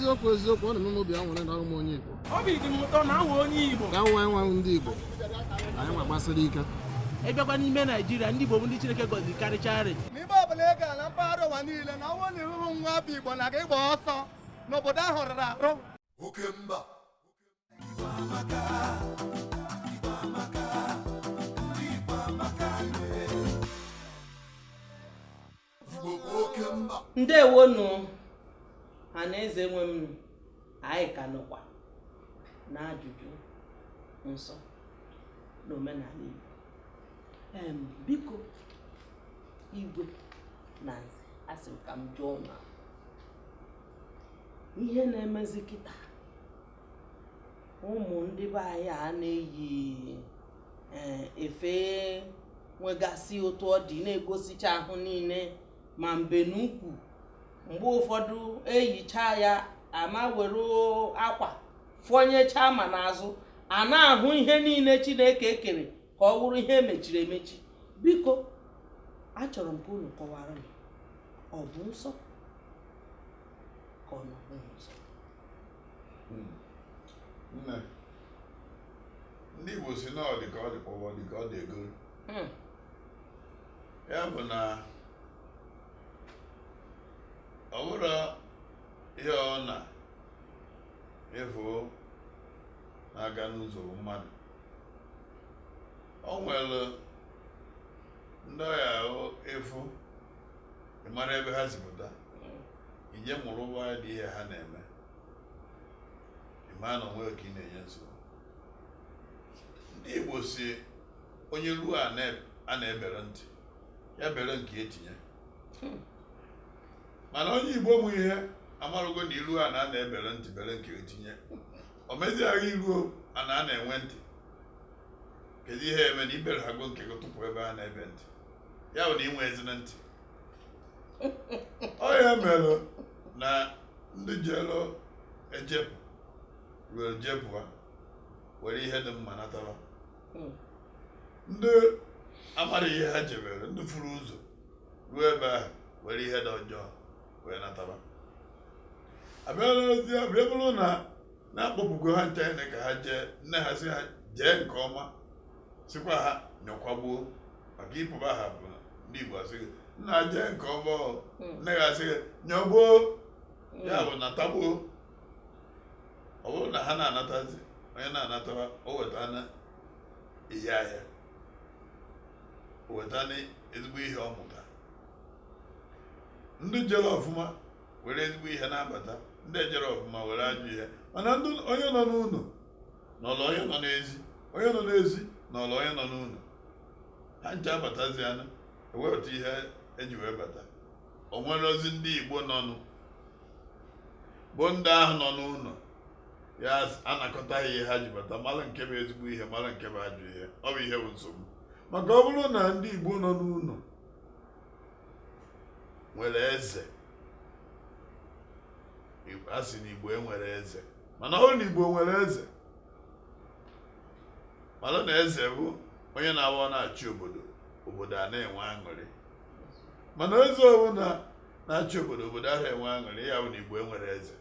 eziokwu eziokwu ọ na-eme m obi anwụrị na awụ m onye Igbo obi dị m ụtọ na awụ m onye Igbo ka anyị nwa ndị Igbo anyị nwa gbasiri ike ị bịakwa n'ime Naijiria ndị Igbo bụ ndị Chineke gọziri karịcharị ebe ọbụla ị gara na mpaghara ụwa niile na ọ wụ na ị hụhụ nwa afọ igbo na gị gba ọsọ na obodo ahụ rụrụ arụ oke mba igbo bụ oke mba ndewonu ọha na eze nwe m anyị ka nọkwa n'ajụjụ nsọ n'omenala igbo biko igwe na nze asị m ka m jụọ na ihe na-emezi kịta ụmụ ndị be anyị a na-eyi eh, efe nwegasị otu ọ dị na-egosicha ahụ niile ma mbe n'ukwu mgbe ụfọdụ eyicha ya ama were akwa fọnyechaa ma n'azụ a na-ahụ ihe niile chineke kere ka ọ wụrụ ihe emechiri emechi biko achọrọ m ka unu kọwara m ọ bụ nsọ ka ọ na ọ bụghị nsọ hmm. nne ndị igbo si na ọ dị ka ọ dị kpọwa ọ dị ka ọ dị egoro hmm. ya bụ na ọ bụrụ ihe ọ na ịhụ na-aga n'ụzọ mmadụ o nwere ndị ọ ya-awụ ị fụ ị mara ebe ha si pụta ị je mụrụba ụdị ihe ha na-eme ị mara na onwe gị ka ị na-enye nsogbu ndị Igbo si onye ruo ana a na-ebere ntị ya bere nke ya tinye mana onye igbo ma ihe amarago na i ruo ana a na-ebere ntị bere nke gị tinye o mezia i ruo ana a na-enwe ntị kedu ihe eme na i berehago nke gị tụpụ ebe a na-ebe ntị ya bụ na i nwezighị ntị ọ ya mere na ndị jelu ejepụ ruo jepụ ha were ihe dị mma natara ndị amarọ ihe ha jebere ndị furu ụzọ ruo ebe ahụ were ihe dị ọjọọ wee nataba abịala ozi ya bịa bụrụ na na-akpọpụgo ha ncha ene ka ha jee nne ha sị ha jee nke ọma sịkwa ha nyọkwa gboo maka ịpụba ha bụ na ndị Igbo asị gị nna jee nke ọma ọ Mm. nne gị asị gị nyọ gboo ya bụ nata gboo ọ bụrụ na ha na-anatazi onye na-anatara o weta na ihe ahịa wetana ezigbo ihe ọ mụta ndị jere ọfụma were ezigbo ihe na-abata ndị ejerọ ọfụma were ajọ ihe mana ndị onye nọ n'ụlọ nọrọ onye nọ n'ezi onye nọ n'ezi nọrọ onye nọ n'ụlọ ha ncha abatazịa nụ ewepụta ihe e ji wee bata o nwerọzi ndị igbo nọnụ bụ ndị ahụ nọ n'ụlọ ya-anakọta ihe ha ji bata mara nke bụ ezigbo ihe mara nke bụ ajọ ihe ọ bụ ihe bụ nsogbu maka ọ bụrụ na ndị Igbo nọ n'ụlọ nwere eze a sị na Igbo enwerọ eze mana ọ bụrụ na Igbo nwere eze mara na eze bụ onye na-abụ ọ na-achị obodo obodo a na-enwe aṅụrị mana eze ọbụla na-achị obodo obodo ahụ enwe aṅụrị ya bụ na igbo enwerọ eze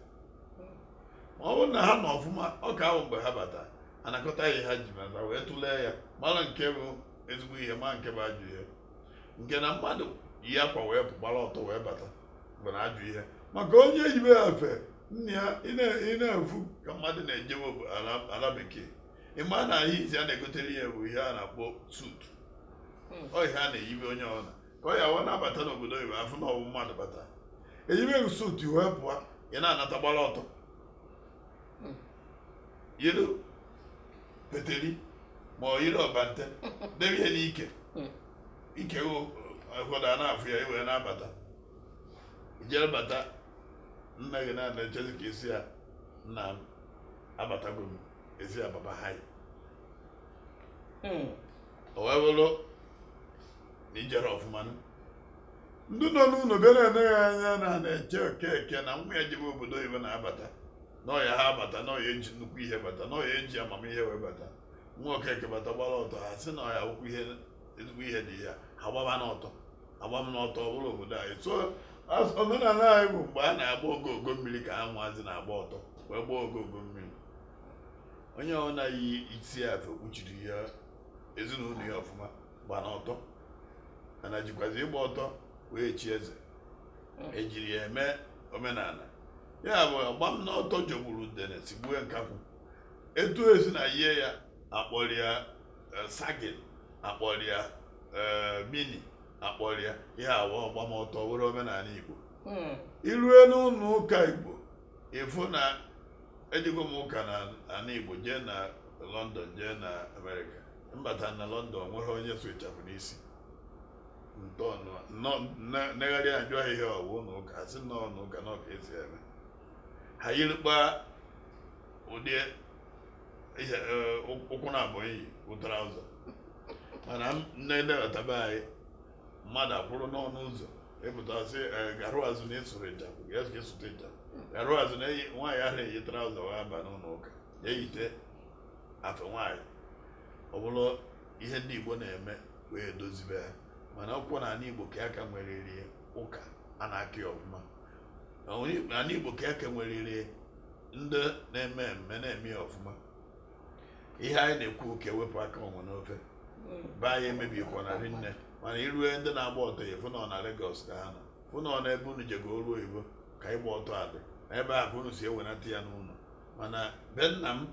ma ọ bụrụ na ha nọ ọfụma ọ ka abụ mgbe ha bata anakọta ihe ha ji bata wee tụlee ya mara nke bụ ezigbo ihe ma nke bụ ajọ ihe nke na mmadụ yi akwa wee gbara ọtọ wee bata bụ na ajọ ihe maka onye yibe ya afe nne ya ị na-afụ ka mmadụ na-ejewe ala bekee ị ma na ihe izizi a na-egotere ya bụ ihe a na-akpọ suit hmm. ọ ihe a na-eyibe onye ọbụla ka ọ ya wee na-abata n'obodo oyibo a fụ na ọ bụ mmadụ bata e yibe gị suit wee pụọ ị na-anata gbara ọtọ yiri peteri ma ọ yiri ọbante debe ihe n'ike ike ụfọdụ a na-afụ ya i wee na-abata i jere bata nna gị na-echezi ka ị sị ya nna m abatago m ezi ya baba ha o wee bụrụ na i jere ọfụma nụ. ndị nọ n'ụlọ bịa na-ene ya anya na na-eche okeke na nwa ya jebe obodo oyibo na-abata na ọ ya-abata na ọ ya-eji nnukwu ihe bata na ọ ya-eji amamihe wee bata nwa okeke bata gbara ọtọ ha sị na ọ ya-abụkwa ihe ezigbo ihe dị ya ha gbabanụ ọtọ agba m n'ọtọ ọ bụrọ obodo anyị so as- omenala anyị bụ mgbe a na-agba ogogo mmiri ka ụmụazị na-agba ọtọ wee gbaa ogogo mmiri onye ọ na-eyisi afe kpuchiri ya ezinụlọ ya ọfụma gba n'ọtọ mana jikwazi ịgba ọtọ wee chie eze e jiri ya eme omenala ya bụ ọgba m n'ọtọ jọgburu udene sigbue nkakwụ etu e si na-eyi ya a kpọrọ ya sagin a kpọrọ ya mini a kpọrọ ya ya bụ ọgba m ọtọ were omenala igbo hmm. i rue n'ụlọ ụka igbo ị fụ na ejego m ụka na ana igbo jee na london jee na amerịka m bata na london nwerọ onye sụ ịchafụ n'isi ntọọnụ negharị ajụ ihe a ọ wụ na ụka a sị na ọ na ụka na ọ ka e si eme ha yirikpa ụdị ihe e, ụkwụ na abụọ iyi traụza mana m na-ejebata be anyị mmadụ akwụrụ n'ọnụ ụzọ ị pụta sị e e, garụ azụ na ị sụrọ ịchafụ ya sụrụ ị sụta ịchafụ garụ azụ na eyi nwaanyị ara eyi traụza wee aba n'ụlọ ụka ya eyite afe nwaanyị ọ bụrụ ihe ndị Igbo na-eme wee dozibe ha mana ọ bụkwa na ala Igbo ka a ka nweriri ụka a na-aka ya ọfụma n'ala Igbo ka a ka nweriri ndị na-eme eme na-eme ya ọfụma ihe anyị na-ekwu ka e wepụ aka enwe n'ofe be anyị emebikwana rinne mana i rue ndị na-agba ọtọ ya fụ na ọ na Lagos ka ha nọ fụ na ọ na ebe unu jega ọrụ oyibo ka ịgba ọtọ a dị na ebe a ka unu si ewenata ya n'ụlọ mana be nna m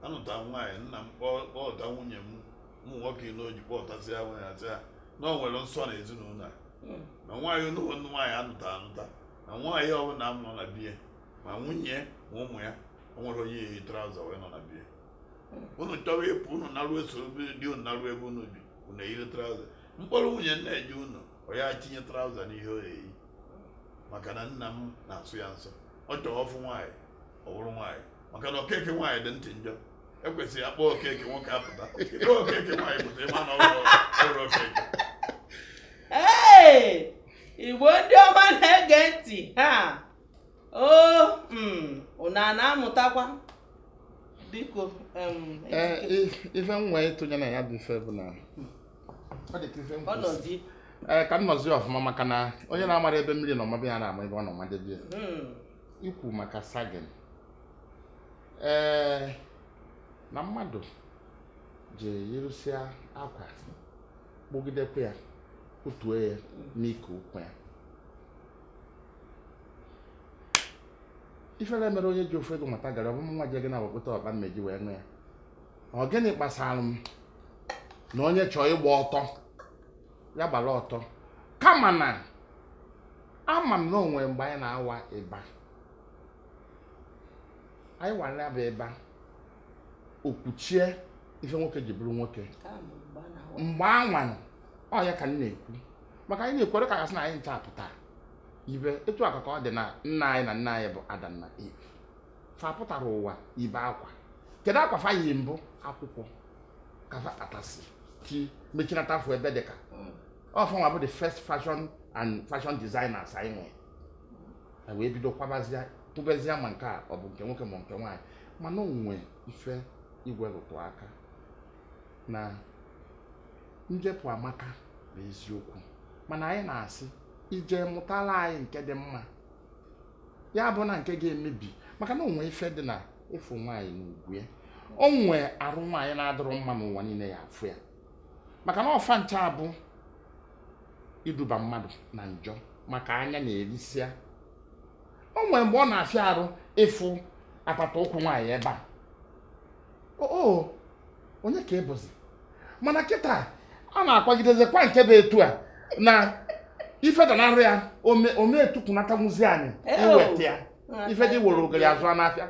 anụta nwaanyị nna m kpọọ kpọta nwunye ụmụ nwoke inọ o ji kpọtasịa nwunye a sị ha na o nwere nsọ na ezinụlọ a na nwaanyị unu nwaanyị anụta anụta na nwaanyị ọbụla a mụ na be ya ma nwunye ma ụmụ ya o nwerọ onye yi traụza wee nọ na be ya unu chọwa ịpụ unu narụ eso di unu narụ ebe unu bi unu eyiri traụza m kpọrọ nwunye m na-eje ụnọ ọ ya tinye traụza n'ihe o eyi maka na nna m na-asọ ya nsọ ọ chọrọ ọ fụ nwaanyị ọ bụrụ nwaanyị maka na okeke nwaanyị dị ntị njọ ekwesịrọ a kpọọ okeke nwoke apụta ị kpọọ okeke nwaanyị pụta ị ma na ọ bụrọ okeke Ee, igbo ndị ọma na-ege ntị ha o mm, unu a na-amụtakwa biko em, Ee, Ejike, i- ife m nwee ịtụnye na ya bụ ife bụ na ọ dị ka ife m kwuru. ọnọdụ Ee, ka m nọzie ọfụma maka na onye na-amarọ ebe mmiri nọ mabe ya ara ama ebe ọ nọ madebe ya mm, ikwu maka sagin ee na mmadụ ji yirụsịa akwa kpụgidekwa ya kụtuo ya n'ike ukwu ya ifere mere onye ji ofu ego mata gara ọ bụ nwa je gị na-awepụta ọkpa mmeji wee nụ ya ọ gịnị kpasara m na onye chọọ ịgba ọtọ ya gbara ọtọ kama na ama m na o nwe mgbe anyị na-awa ịba anyị wara ya bụ ịba o kpuchie ife nwoke ji bụrụ nwoke mgbe anwanụ ọ ya ka m na-ekwu maka anyị na-ekwere ka gasị na anyị ncha pụtara ibe etu aka ka ọ dị na nne anyị na nna anyị bụ Adam na Eve fa apụtarọ ụwa yibe akwa kedu akwa fa yi mbụ akwụkwọ ka fa kpatasị ji mechinata afọ ebe dị ka ọ fa nwa bụ the first fashion and fashion designers anyị nwere e wee bido kwabazia tụbezia ma nke a ọ bụ nke nwoke ma nke nwaanyị mana o nwe ife Igwe rụtụ aka na njepụ amaka bụ eziokwu mana anyị na-asị ị jee mụtara anyị nke dị mma ya abụna nke ga-emebi maka na o nwe ife dị na ịfụ nwaanyị na ugwu ya o nwe arụ nwaanyị na-adịrọ mma na ụwa niile ya-afụ ya maka na ọ fa ncha bụ iduba mmadụ na njọ maka anya na-erisịa o nwere mgbe ọ na-afịa arụ ịfụ apata ụkwụ nwaanyị ebe a oo onye ka ị bụzi mana kịta a na-akwagidezikwa nke bụ etu a na ife danarị ya ọ ma-etukwunatanwụzi anị iweta ya ife dị were ogiri azụ n'afịa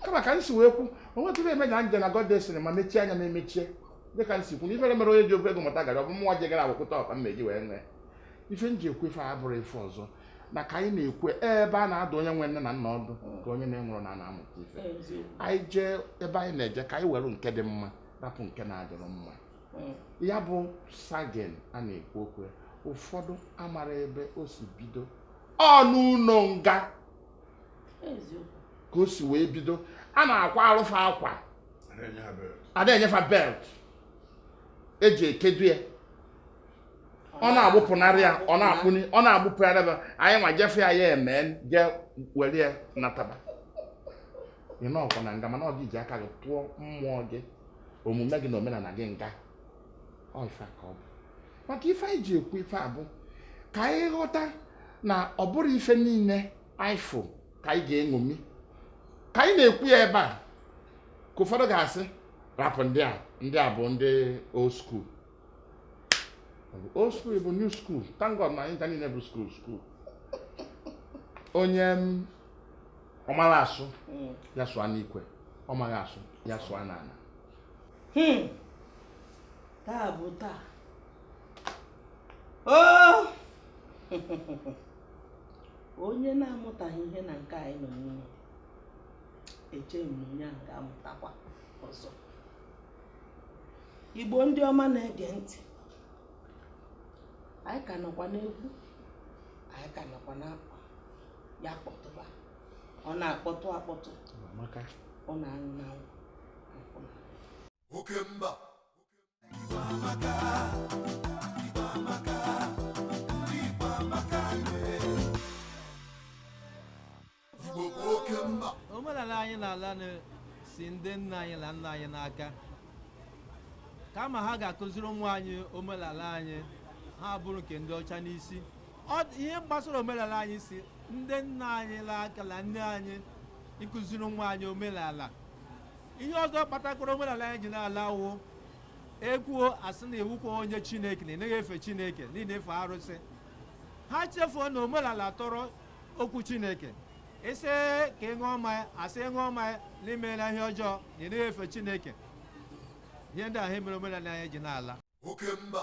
kama ka m si wee kwu o nwetụrụ eme na nje na godes ma mechie anya m emechie dịka m si kwu na ifere mere onye ji ofe ego mụta gara ọ bụ mụnwa je gara akwụkwụta ọkpa m meji wee nwee ife m ji ekwu ife a abụrọ ife ọzọ na ka anyị na-ekwu ebe a na-adụ onye nwe nne na nna ọdụ ka onye na-enwerọ nna na-amụta ife anyị jee ebe anyị na-eje ka anyị were nke dị mma rapụ nke na-adịrọ mma ya bụ sagging a na-ekwu okwu ụfọdụ amarọ ebe o si bido ọ n'ụlọ nga ka o si wee bido a na-akwarụ fa akwa a da-enye fa belt e ji ekedu ya ọ na-agbụpụnarị ya ọ na-akpụni ọ na-agbụpụgharị ya anyị nwa je fụ ya ya eme je were ya nataba ị nọkwa na nga mana ọ gị ji aka gị tụọ mmụọ gị omume gị na omenala gị nga ọ ife ka ọ bụ maka ife anyị ji ekwu ife a bụ ka anyị ghọta na ọ bụrọ ife niile anyị fụ ka anyị ga-eṅomi ka anyị na-ekwu ya ebe a ka ụfọdụ ga-asị rapụ ndị a ndị a bụ ndị old school old school bụ new school thank God na anyị niile bụ school school onye mm, ọ mara asụ mm. ya sụọ n'ikwe ọ maghị asụ ya sụọ n'ala hmm. taa bụ taa oh! onye na-amụtaghị ihe na nke anyị nọ n'ime eche m na onye ahụ ga-amụtakwa ọzọ igbo ndị ọma na-ege ntị anyị ka nọkwa n'egwu anyị ka nọkwa na nkwa ya kpọtụba ọ na-akpọtụ akpọtụ ọ na-aṅụ n'anwụ oke mba omenala anyị na-ala si ndị nna anyị na nna anyị n'aka kama ha ga-akụziri ụmụ anyị omenala anyị ha buru nke ndị ọcha n'isi ihe gbasara omenala anyị si ndị nna anyị n'aka na nne anyị ịkụziri nwa anyị omenala ihe ọzọ kpatakwara omenala anyị ji na-ala wụ ekwuo asị na ị wụkwa onye chineke na ịnaghị efe chineke na ị na-efe arụsị ha chefuo na omenala tọrọ okwu chineke ị sị ka ị ṅụọ mmanya asị ṅụọ mmanya na i meela ihe ọjọọ na ịnaghị efe chineke ihe ndị ahụ mere omenala anyị ji na-ala oke mba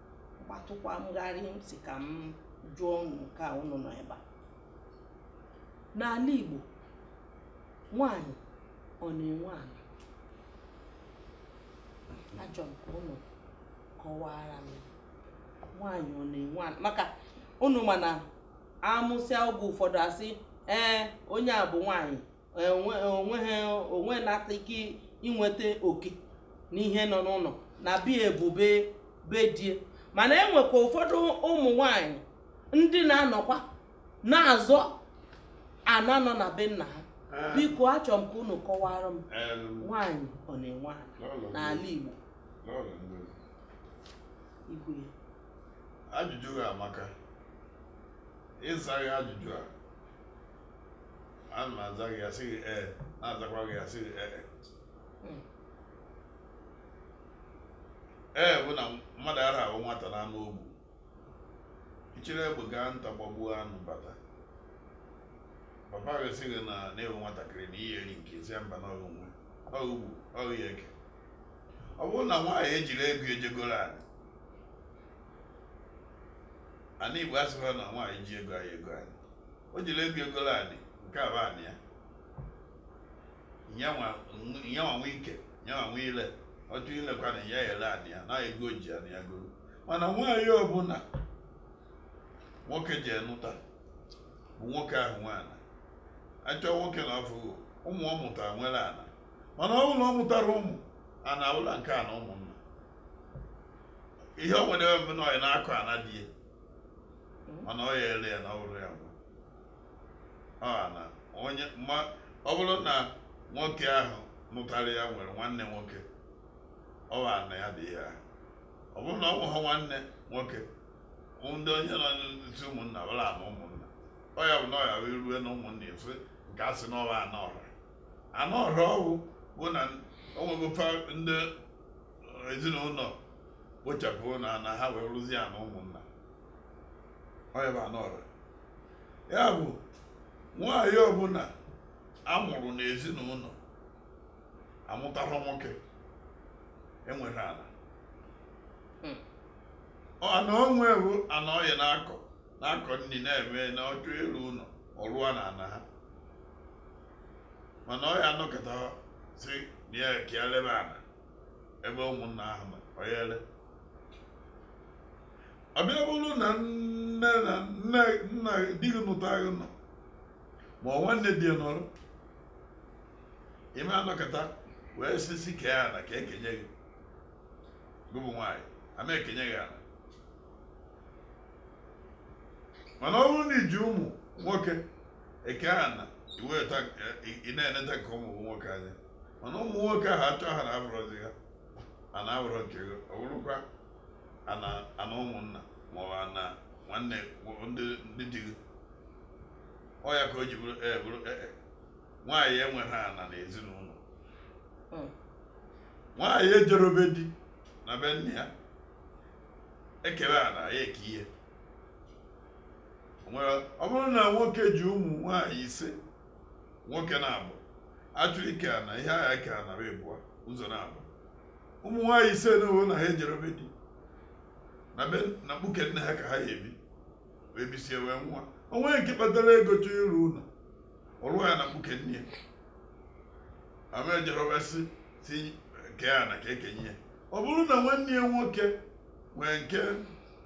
gbatụkwa m gharịị m sị ka m jụọ unu nke a unu nọ ebe a n'ala Igbo nwanyị ọ na-enwe ala achọ m ka unu kọwara m nwaanyị ọ na-enwe ala maka unu ma na amụsịa oge ụfọdụ asị ee onye a bụ nwaanyị o nwenata ike inweta oke n'ihe nọ n'ụlọ na be e bụ be di e mana enwekwa ụfọdụ ụmụ nwanyị ndị na-anọkwa na-azọ ana nọ na be nna ha ah. biko achọ m ka unu kọwara m nwaanyị ọ na-enwe ala n'ala Igbo ajụjụ gị amaka ịza gị ajụjụ a ana m aza gị asị gị ee na-azakwa gị asị gị ee Hmm. ee bụ na mmadụ ara awụ nwata na anụ o gbu ị chịrị egbe gaa nta gbagbuo anụ bata papa gị sị gị na na-ewe nwatakịrị na ihe eri nke ezi mba na ọ gị nwe ọ gị gbu ọ gị ya-eke ọ bụrụ na nwaanyị ejiri ego e je goro ana ana igbo asịkwa na nwaanyị ji ego anyị ego anyị o jiri ego egolo anị nke a bụ anị ya nyanwa nwe ike nyanwa nwe ile ọ chọ ilekwa na ya ele anị ya na ego ji anị ya goro mana nwaanyị ọbụla nwoke ji enụta bụ nwoke ahụ nwe ana achọ nwoke na afọ ụmụ ọ mụtara nwere ana mana ọ bụrụ na ọ mụtarọ ụmụ ana ụlọ nke a na ụmụnna ihe o nwere ebe na ọ ya na-akọ ana di ya mana ọ ya ele ya na ọ bụrọ ya nwe ọ ana onye ma ọ bụrụ na nwoke ahụ nụtara ya nwere nwanne nwoke ọ bụ ana ya dị ya ahụ. ọ bụrụ na ọ nweghị nwanne nwoke bụ ndị onye nọ n'isi ụmụnna bụrụ ana ụmụnna ọ ya bụ na ọ ya wee rue na ụmụnna efe ka a sị na ọ bụ ana ọra ana ọra ọwụ bụ na onwegofa ndị ezinụlọ kpochapụ ana ha wee ruzie ana ụmụnna ọya bụ ana ọra ya bụ nwaanyị ọbụla amụrụ n'ezinụlọ amụtara nwoke enwerọ ana Hmm. ana o nwe bụ ana ọya na-akọ na-akọ nri na-eme na ọ chọ ịrụ ụlọ ọ rụa na ana ha mana ọ ya anọkata sị na ya ka ya lebe ana ebe ụmụnna ahụ nọ ọ ya ele ọ bịa bụrụ na nne na nne nna di gị nụta gị nọ ma ọ nwanne di ya nọrọ ị ma anọkata wee sị sị kee ana ka ekenye gị gị bụ nwaanyị ama ekenye gị ana mana ọ bụrụ na i ji ụmụ nwoke eke ana ị na-eneta nke ụmụ nwoke anya mana ụmụ nwoke ahụ achọ ana abụrụzi ha ana abụrọ nke gị ọ bụrọkwa ana ụmụnna ma ọ ana nwanne ndị di gị ọ ya ka o ji bụrụ ee bụrụ ee nwaanyị enweghị ana na ezinụlọ hmm. nwaanyị ejerobe di na be nna ya ekerọ ana ya eke ihe O nwere- ọ bụrụ na nwoke ji ụmụ nwaanyị ise nwoke naabọ achọ ike ana ihe a ga-eke ana ịbụọ ụzọ naabọ ụmụ nwaanyị ise na ụlọ na ha ejerobe di na be na mkpuke nne ha ka ha ya ebi wee bisie wee nwa o nwere nke kpatara ego chọọ ịrụ ụlọ ọ rụọ ya na mkpuke nne ya ama ejere wee sị sị kee ana ka ekenye ya ọ bụrụ na nwanne ya nwoke nwee nke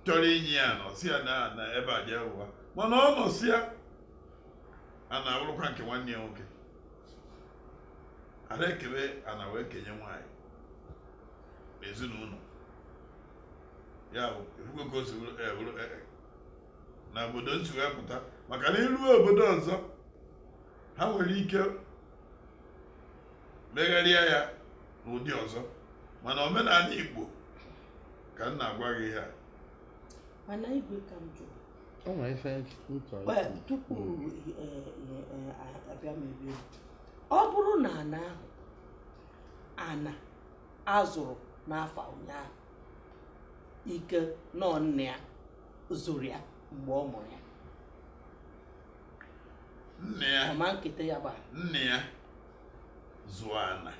chọrọ inye ya nọsịa na na ebe a jee ụwa mana ọ nọsịa ana abụrụkwa nke nwanne ya nwoke ara ekebe ana wee kenye nwaanyị n'ezinụlọ ya bụ ị fụgo ka o si bụrụ eh, bụrụ, eh, eh. na obodo m si wee pụta maka na i ruo obodo ọzọ ha nwere ike megharịa ya n'ụdị ọzọ mana omenana Igbo ka m na-agwa gị ihe a mana igwe ka m jụọ o nwere ife ntọ Well, tupu eh, eh, eh, abịa m ebe a, ọ bụrụ na ana ahụ ana a zụrụ n'afọ ụnyaahụ ike na ọ nna ya zụrụ ya mgbe ọ mụrụ ya nne ya ọ ma nketa ya bụ nne ya zụọ ana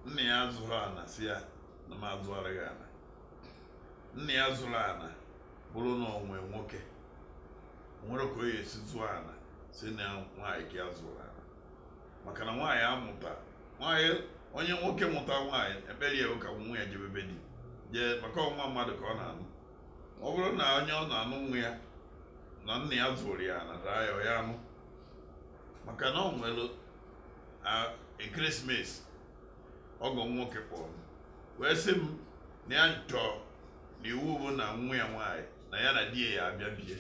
nne ya zụrụ ana sị ya na m azụara gị ana nne ya zụrụ ana bụrụ na o nwee nwoke o nwere ka ọ ya-esi zụọ ana sị na nwaanyị ka ya zụrụ ana maka na nwaanyị amụta nwaanyị onye nwoke mụta nwaanyị ekpere ya ka nwa ya jebe be di jee maka ọ nwa mmadụ ka ọ na-anụ ọ bụrụ na onye ọ na-anụ nwa ya ana nna ya zụrụ ya na raa ya ya anụ maka na ọ nwere ekeresimesi ọgọ m nwoke kpọrọ m wee sị m na ya chọọ na iwu bụ na nwa ya nwaanyị na ya na di ya abịa bie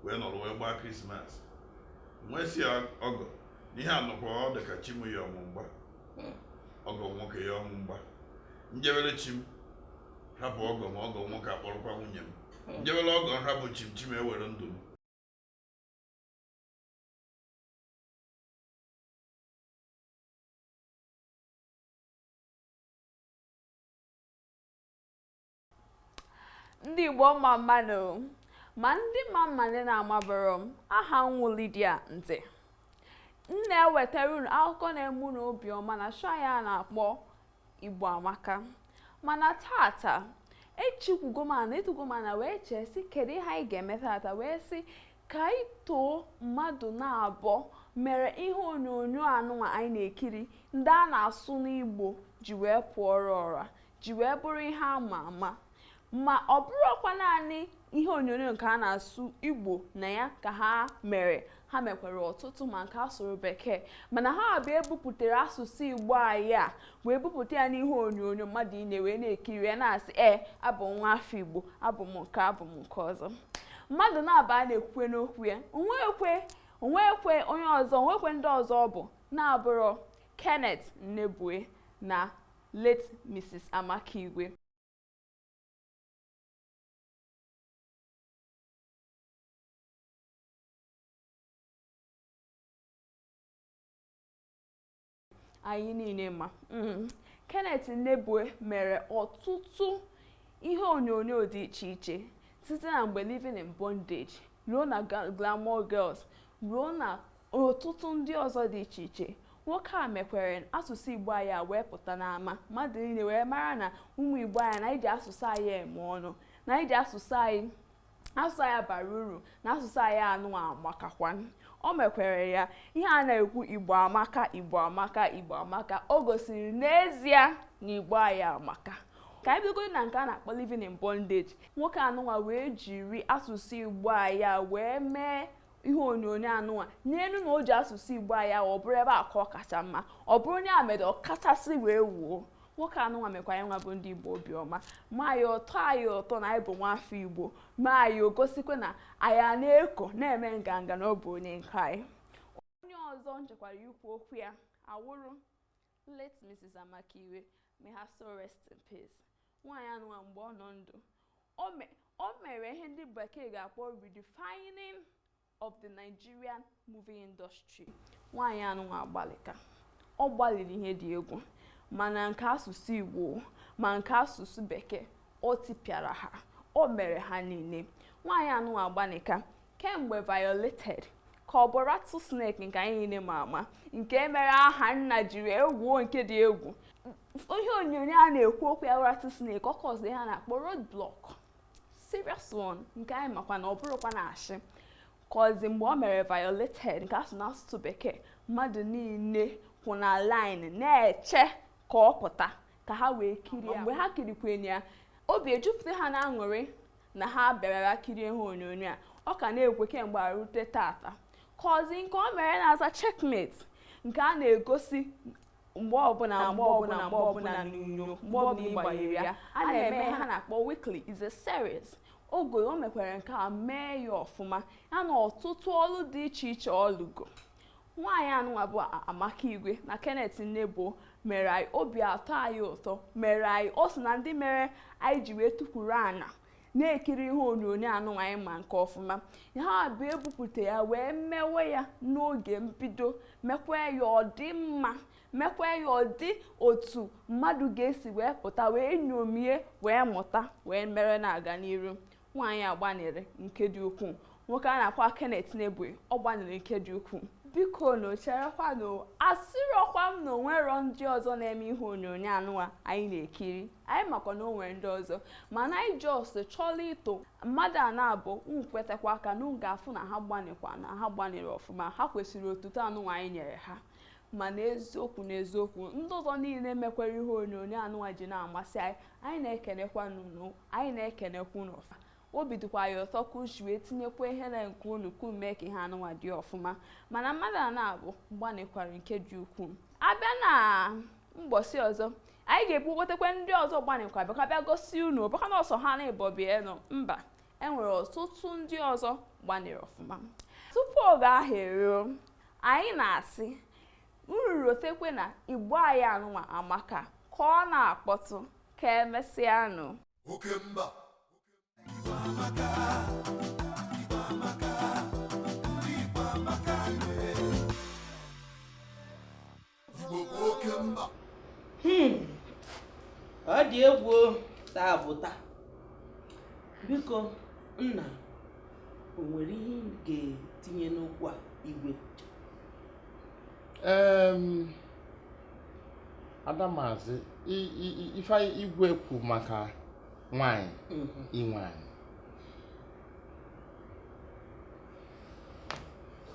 wee nọrọ wee gbaa krismas m wee sị ya ọgọ na ihe anọkwa ọ dị ka chi m yọọ mụ mgba ọgọ m nwoke yọọ mụ mgba m jebere chi m hapụ ọgọ m ọgọ m nwoke akpọrọkwa nwunye m hmm. m jebere ọgọ m hapụ chi m chi m ewere ndụ m ndị Igbo ọma mmanụ ma ndị ma m ma ndị na-amabụrọ m aha m wụ Lydia Nze m na-ewetara unu akụkọ na-eme unu obiọma na show anyị a na-akpọ Igbo Amaka mana taata echikwugo m ana etugo m ana wee chee sị kedu ihe anyị ga-eme taata wee sị ka anyị too mmadụ naabọ mere ihe onyonyo anụnwa anyị na-ekiri ndị a na-asụ n'Igbo ji wee pụọrọ ọra ji wee bụrụ ihe ama ama ma ọ bụrọkwa naanị ihe onyonyo nke a na-asụ Igbo na ya ka ha mere ha mekwere ọtụtụ ma nke a sụrụ bekee mana ha abịa ebupụtara asụsụ Igbo anyị a wee bupụta ya n'ihe onyonyo mmadụ niile wee na-ekiri ya na-asị ee abụ m nwa afọ Igbo abụ m nke a abụ m nke ọzọ mmadụ naabọ a na-ekwukwe n'okwu ya o nwekwe o nwekwe onye ọzọ o nwekwe ndị ọzọ ọ bụ na-abụrọ Kenneth Nnebue na late Mrs. Amaka Igwe anyị niile ma mm. Kenneth Nnebue mere ọtụtụ ihe onyonyo dị iche iche site na mgbe Living in Bondage ruo na Glamour Girls ruo na ọtụtụ ndị ọzọ dị iche iche nwoke a mekwere asụsụ igbo anyị a wee pụta n'ama mmadụ niile wee mara na ụmụ igbo anyị na anyị ji asụsụ anyị eme ọnụ na anyị ji asụsụ anyị asụsụ anyị bara uru na asụsụ anyị anwa amakakwa o mekwere ya ihe a na-ekwu igbo amaka igbo amaka igbo amaka o gosiri n'ezie na igbo anyị amaka ka anyị bidogodi na nke a na-akpọ living in bondage nwoke anụnwa wee jiri asụsụ igbo anyị wee mee ihe onyonyo anụnwa n'elu na o ji asụsụ igbo anyị ọ bụrụ ebe a ka ọ kacha mma ọ bụrụ onye a mere ọ kachasị wee wuo nwoke anụnwa mekwa anyị nwa bụ ndị igbo obiọma ma anyị ụtọ anyị ụtọ na anyị bụ nwafọ igbo ma anyị egosikwe na anyị na-eko na-eme nganga na ọ bụ onye nke anyị onye ọzọ m chọkwara ikwu okwu ya awụrụ late Mrs. Amaka Igwe may her soul rest in peace nwaanyị anụwa mgbe ọ nọ ndụ o mere ihe ndị bekee ga-akpọ redefining of the Nigerian movie industry nwaanyị anụwa agbalịka ọ gbalịrị ihe dị egwu mana nke asụsụ Igbo ma nke asụsụ bekee o tipịara ha o mere ha niile nwaanyị anụwa agbalịka kemgbe violated ka ọ bụ rattlesnake nke anyị niile ma ama nke mere Ahanna jiri wuo nke dị egwu ihe onyonyo a na-ekwu okwu ya rattlesnake ọ kọzi ihe a na-akpọ road block serious one nke anyị makwa na ọ bụrọkwa na ashị kọzi mgbe o mere violated nke a sụ n'asụsụ bekee mmadụ niile kwụ na line na-eche ka ọ pụta ka ha wee kirie mgbe ha kirikwenye ya obi ejupụta ha na aṅụrị na ha bịarara kirie ihe onyonyo a ọ ka na-ekwe kemgbe a rute tata kọzi nke o mere na-aza checkmate nke a na-egosi mgbe ọbụla mgbe ọbụla mgbe ọbụla n'onyonyo mgbe ọbụla ị gbanyere ya a na-eme ihe a na-akpọ weekly is a series ogo o mekwere nke a mee ya ọfụma ya na ọtụtụ ọlụ dị iche iche ọ lụgo nwaanyị anụnwa bụ amaka igwe na kenneth nnebue mere anyị obi atọ anyị ụtọ mere anyị o so na ndị mere anyị ji wee tukwuru ana na-ekiri ihe onyonyo anụnwa anyị ma nke ọfụma ha bụ ebupụta ya wee mewe ya n'oge mbido mekwa ya ọ dị mma mekwa ya ọ dị otu mmadụ ga-esi wee pụta wee nyomie wee mụta wee mere na-aga n'iru nwaanyị a gbanịrị nke dị ukwuu nwoke a nakwa Kenneth Nnebue ọ gbanịrị nke dị ukwuu bikonụ cherekwanụ asịrọkwa m na onwerọ ndị ọzọ na-eme ihe onyonyo anụnwa anyị na-ekiri anyị makwa na o nwere ndị ọzọ mana anyị just chọrọ ito mmadụ a naabọ nkwetakwa aka na ga-afụ na ha gbanịkwa na ha gbanịrị ọfụma ha kwesịrị otuto anụnwa anyị nyere ha ma n'eziokwu n'eziokwu ndị ọzọ niile mekwara ihe onyonyo anụnwa ji na-amasị anyị anyị na-ekenekwa unu anyị na-ekenekwa unu ọfụma obi dịkwa anyị ụtọ ka unu si wee tinyekwa ihe na nke unu ka mee ka ihe anụnwa dị ọfụma mana mmadụ a naabọ gbanịkwara nke dị ukwuu abịa na mgbọsị ọzọ anyị ga-ebukọtakwa ndị ọzọ gbanịkwara bịa gosi unu ọ bụkwa na ọ sọ ha naabọ bịa nọ mba enwere ọtụtụ ndị ọzọ gbanịrị ọfụma tupu oge ahụ eruo anyị na-asị unu rotekwa na igbo anyị anụnwa amaka ka ọ na-akpọtụ ka emesịanụ oke mba Hmm. ọ dị egwu taa bụ taa biko nna o nwere ihe ị ga-etinye n'okwu a igwe ada mazi i- i- i- ife igwe kwu maka nwanyị inwe anị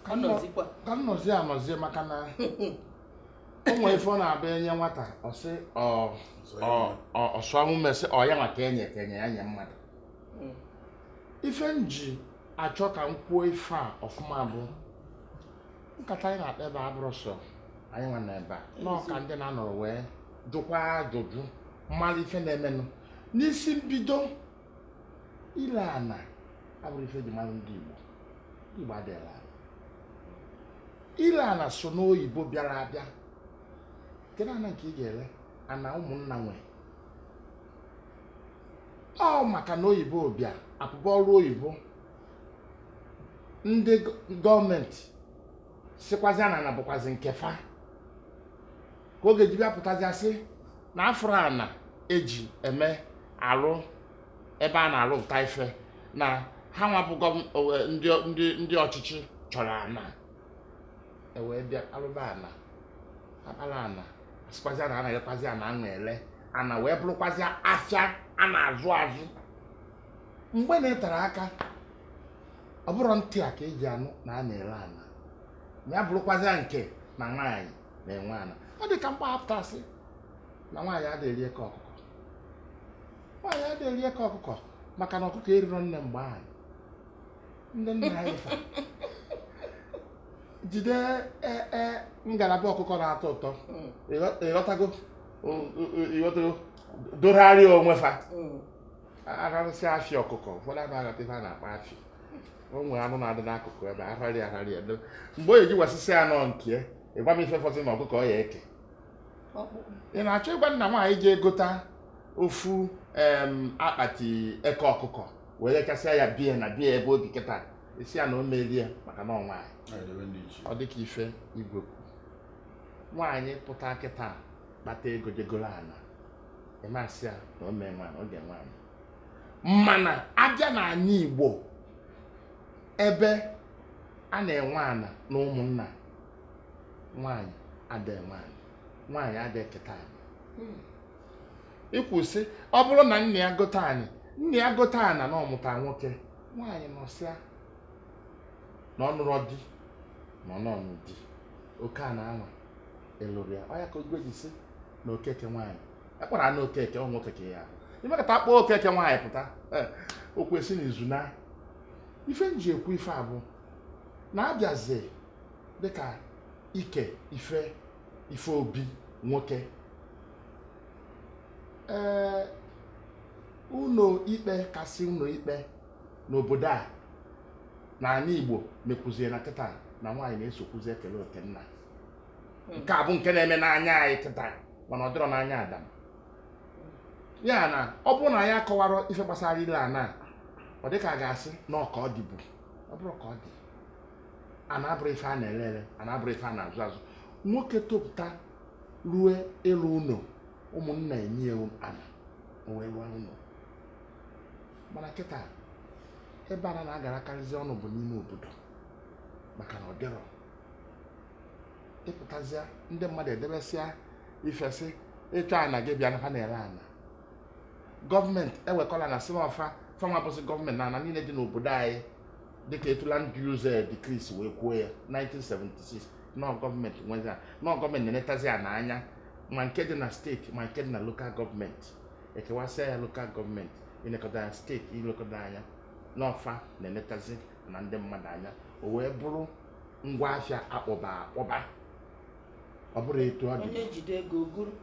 Ka m nọ- Anọzikwa. ka m nọzie anọzie maka na o nwere ife ọ na-abụ enye nwata ọ sị ọ ọ- ọ- ọ sụọ ume sị ọ ya maka enye ka enye ya nye mmadụ Mm. ife m ji achọ ka m kwuo ife a ọfụma bụ nkata anyị na-akpa ebe a abụrọ sọ anyị nwa nọ ebe a na ọ ka ndị na-anọrọ wee jụkwa ajụjụ malụ ife na-emenụ n'isi mbido ile ana abụrọ ife e ji mara ndị Igbo ndị Igbo adịghị ele ala ile ana so n'oyibo bịara abịa kedu ana nke ị ga-ele ana ụmụnna nwe ọ maka na oyibo bịa apụba ọrụ oyibo ndị gọọmenti sikwazi na ana bụkwazi nke fa ka oge eji bịapụtazi asị na afụrụ ana eji eme arụ ebe a na-arụpụta ife na ha nwa bụ ndị ọchịchị chọrọ ana ewee bịa alụba ana akpara ana asịkwazi ana anaghịkwazi ana ana ele ana wee bụrụkwazi afịa a na-azụ azụ mgbe na-etere aka ọ bụrọ ntị a ka eji anụ na a na-ere ana ma ya bụrụkwazịa nke na nwaanyị na-enwe ana ọ dị ka mgbe a pụta sị na nwaanyị adịghị eri eke ọkụkọ nwaanyị adịghị eri eke ọkụkọ maka na ọkụkọ erirọ nne mgbe ahụ ndị nna anyị fa jide e, e, ngalaba ọkụkọ na-atọ ụtọ mm. ịghọtago ịghọtago dogharịa onwe fa mm. ararụsị afịa ọkụkọ ụfọdụ ama aghọta ife a na-akpọ afịa o nwere anụ na-adị n'akụkụ ebe ararị ararị edo mgbe o ji wasịsịa anụ nke ịgwa m ife fọzị na ọkụkọ ọ ya ka ị na-achọ ịgwa na nwaanyị ji egota ofu akpati eke ọkụkọ wee richasịa ya bie na bie ebe o bi kịta a sị ya na o merie maka na ọnwa ọ dịka ife ịgwa nwaanyị pụta kịta kpata ego je goro ana ị ma sị ya na ọ ma-enwe ana ọ ga-enwe ana mana abịa na anị igbo ebe a na-enwe ana na ụmụnna nwaanyị ada enwe ana nwaanyị ada eketa anị hmm. i kwu sị ọ bụrụ na nna ya gote anị nna ya gote ana na ọ mụta nwoke nwaanyị nọsịa na ọ nụrọ di na ọ nụọ di oke ana anwa elurọ ya ọ ya ka igbo ji sị na okeke nwaanyị akpọrọ na okeke ọ nwoke ka ya i mekata kpọọ okeke nwaanyị pụta eh, o kwesị na izu na ife nji ekwu ife a bụ na abịazi dịka ike ife ife obi nwoke ee eh, ụnọ ikpe kasị ụnọ ikpe n'obodo a na anị Igbo mekwuzie na kịta na nwaanyị na-esokwuzi ekele oke nna hmm. nke a bụ nke na-eme n'anya anyị tịta mana ọ dịrọ n'anya adam ya na ọ bụrụ na ya kọwara ife gbasara ile ana ọ dị ka a ga-asị na ọ ka ọ dịbu ọ bụrọ ka ọ dị ana abụrọ ife a na-ele ele ana abụrọ ife a na-azụ azụ nwoke topụta rue ịlụ ụnọ ụmụnna enye ya ana o wee rụọ ụnọ mana kịta ebe ana garakarịzi ọnụ bụ n'ime obodo maka na ọ dịrọ ị pụtazịa ndị mmadụ edebesịa ife sị ị chọọ ana gị bịa na fa na-ere ana gọọmenti ewekọlụ ana sị na ọ fa fanwa bụsị gọọmenti na ana niile dị n'obodo anyị dịka etu Land Use Decree si wee kwuo ya 1976 na ọ gọọmenti nwezi na ọ gọọmenti na-enetazi ya n'anya ma nke dị na steeti ma nke dị na lokal gọọmenti ekewasịa ya lokal gọọmenti ilekọta ya steeti ilekọta anya na ọ fa na-enetazi na ndị mmadụ anya o wee bụrụ ngwa afịa akpọba akpọba ọ bụrụ etu ọ dị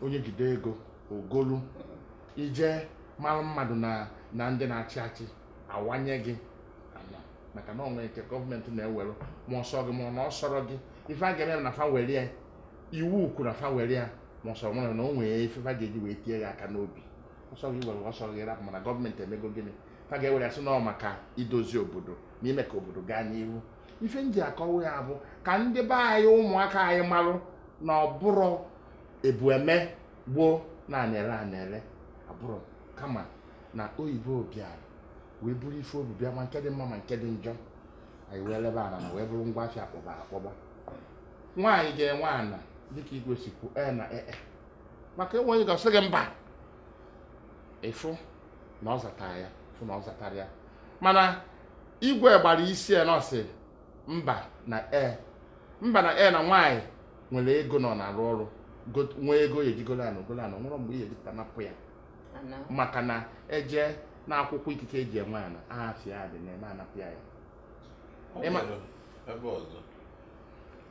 onye jide ego o golu i jee mara mmadụ na ndị na-achị achị a wanye gị maka na o nwe nke gọọmenti na-ewere ma ọ sọ gị ma ọ na ọ sọrọ gị ife a ga-eme na fa were ya iwu kwuru na fa were ya ma ọsọ nwere na o nwere ife fa ga-eji wee tie gị aka n'obi ọ sọ gị were ọ sọ gị rapụ mana gọọmenti emego gịnị fa ga-ewere a sị na ọ maka idozi obodo na ime ka obodo gaa n'ihu ife m ji akọwa ya bụ ka ndị be anyị ụmụaka anyị marụ na ọ bụrụ e bu eme gboo na a na-ere ana ere abụrụ kama na oyibo bịara wee buru ife o bu bịa ma nke dị mma ma nke dị njọ anyị wee lebe ana ana wee bụrụ ngwa afịa akpọba akpọba nwaanyị ga-enwe ana dịka igwe si kwuo e na ee e. maka enweghị onye ga-asị gị mba ị fụ na ọ zatara ya fụ na ọ zatara ya mana igwe gbara isi ya na ọ sị mba na e mba na e na nwaanyị nwere ego nọ na-arụ ọrụ got- nwee ego ya eje golo ana golo ana nwere mgbe ihe dapụta a napụ ya ana. maka na e jee na akwụkwọ ikike e ji enwe ana afa ya adị na ime a napụ ya ya O Ịma- nwere ebe ọzọ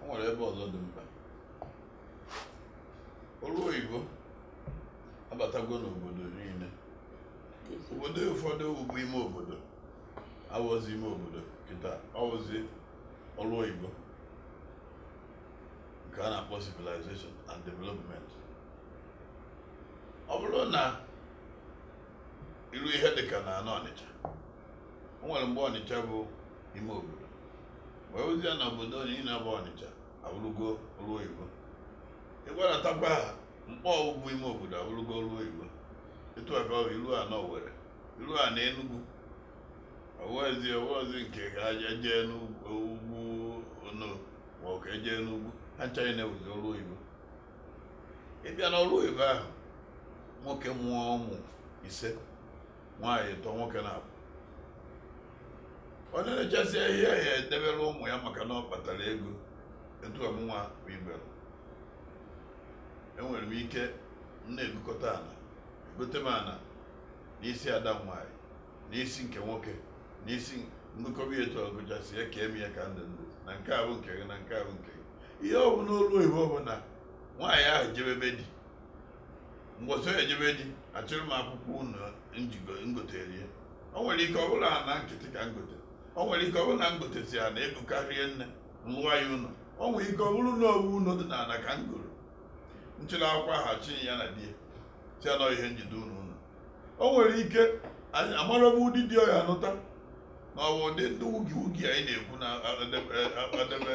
o nwere ebe ọzọ dị mkpa ọrụ oyibo abatago n'obodo niile obodo ụfọdụ wụbu ime obodo awọzi ime obodo kịta ọ wụzi ọrụ oyibo nke a na-akpọ civilization and development ọ bụrụ na i ruo ihe dịka na ana ọnịcha o nwere mgbe ọnịcha bụ ime obodo wee ruzia na obodo niile bụ ọnịcha awụrụgo ọrụ oyibo ị gbadatakwa na Nkpọ wụbu ime obodo awụrụgo ọrụ oyibo etu a ka ọ bụ i rua na Owerri i rua na Enugu ọ wụwazi ọ wụwazi nke ka aja jee n'ugwu ono ma ọ ka e jee n'ugwu ha ncha na-awụzi ọrụ oyibo ị bịa n'ọrụ oyibo ahụ nwoke mụọ ụmụ ise nwaanyị tọ nwoke na-abụ onye na-echasị ihe ya edebere ụmụ ya maka na ọ kpatara ego etu a mụnwa bụ ibere enwere m ike m na-egokọta ana egote m ana n'isi ada m nwaanyị n'isi nke nwoke n'isi m gokọba etu a gochasịa ya ka eme ya ka m dị ndụ na nke ahụ nke gị na nke ahụ nke gị ihe ọ bụ n'olu oyibo ọ bụ na nwaanyị ahụ jebe be di mgbọsị ọ ya-eje be di achịrị m akwụkwọ ụnọ m gotere ya o nwere ike ọ bụlụ ana nkịtị ka m gote o nwere ike ọ bụrụ na m gotesịa ana ego karịa nne m lụa ya ụlọ o nwere ike ọ bụrụ na ọ bụ ụlọ dị n'ala ka m goro m chịrị akwụkwọ ahụ chinye ya na di ya sị ha nọ ihe m ji edu unu ụlọ o nwere ike anyị amarọba ụdị di ọ ya-anụta ma ọ bụ ụdị ndị wugi wugi anyị na-ekwu na adebe adebe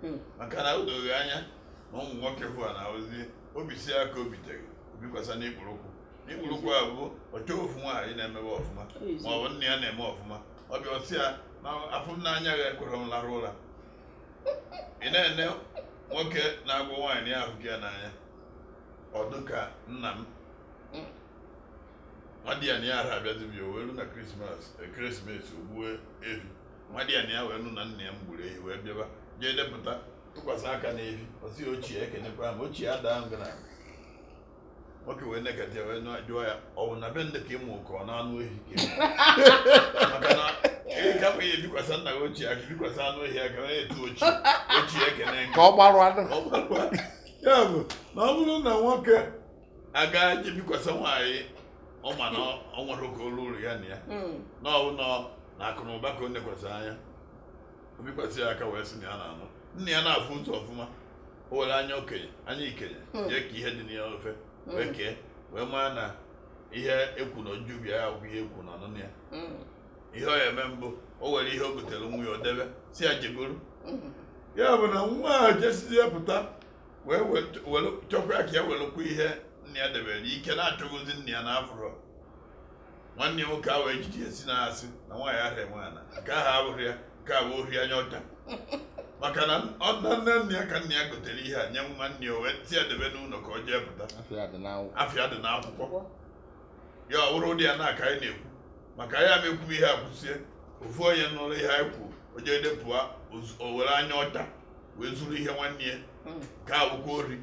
hmm. maka na o doghị anya na ụmụ nwoke bụ a na-awụzi o bisie aka o bitere o bikwasa n'ikpuru ụkwụ n'ikpuru ụkwụ a bụ ọ chọ ofu nwaanyị na-emebe ọfụma ma ọ bụ nna ya na-eme ọfụma ọ bịa ọ sị ya na ịfụnanya ya ekwerọ m larụ ụra ị na-ene nwoke na-agwa nwaanyị ya afụka ya n'anya ọ dị ka nna m hmm. nwadiana ya ara abịazi be ya o wee ru na krismas o gbue ehi nwadiana ya wee nụ na nna ya m gburu ehi wee bịaba jee depụta tụkwasị aka n'ehi ọ sị ya ochie ekenekwa m ochie adaa ngụ na nwoke wee nekata ya wee nọ- jụọ ya ọ bụ na be ndị ka ịmụ ka ọ na-anụ ehi ka ịmụ?" maka na ị gafụ ya ebikwasa nna gị ochie aka i bikwasa anụ ehi aka wee etu ochie ochie ekene ngụ ka ọ gbarụ anụ Ọ gbakwa. ya bụ na ọ bụrụ na nwoke agaa jee bikwasa nwaanyị ọ ma na ọ nwere oke olu ụlọ ya na ya Mm. na ọ bụ nọ na akụ na ụba ka o nekwasị anya o bikwasị ya aka wee sị na ya na-anụ nna ya na-afụ ụzọ ọfụma o were anya okenye anya ikenye Hmm. jee ka ihe dị na ya ofe wee Mm. kee wee mara na ihe ekwu na ojubi ya bụ ihe ekwu na ọnụnụ ya Mm. ihe ọ ya-eme bụ o were ihe o gotere nwa ya o debe sị ya jegoro Mm. ya bụ na nwa ahụ jesizie pụta wee chọkwa ka ya welụkwa ihe nna ya debere ike na achọgozi nna ya na afụrọ nwanne ya nwoke ahụ ejiji esi na asị na nwaanyị ara enwe ana nke ahụ abụrụ ya nke a bụ ohi anya ọcha maka na ọ dị na nne nna ya ka nna ya gotere ihe a nye nwanne ya o wee sị ya debe n'ụlọ ka o jee pụta afa ya dị n'akwụkwọ ya ọ bụrụ ụdị ya na aka anyị na-ekwu maka ya ma ekwu ihe a kwụsie ofu onye nụrụ ihe anyị kwuo o jee depụa o were anya ọcha wee zuru ihe nwanne ya hmm. gaa akwụkwọ ori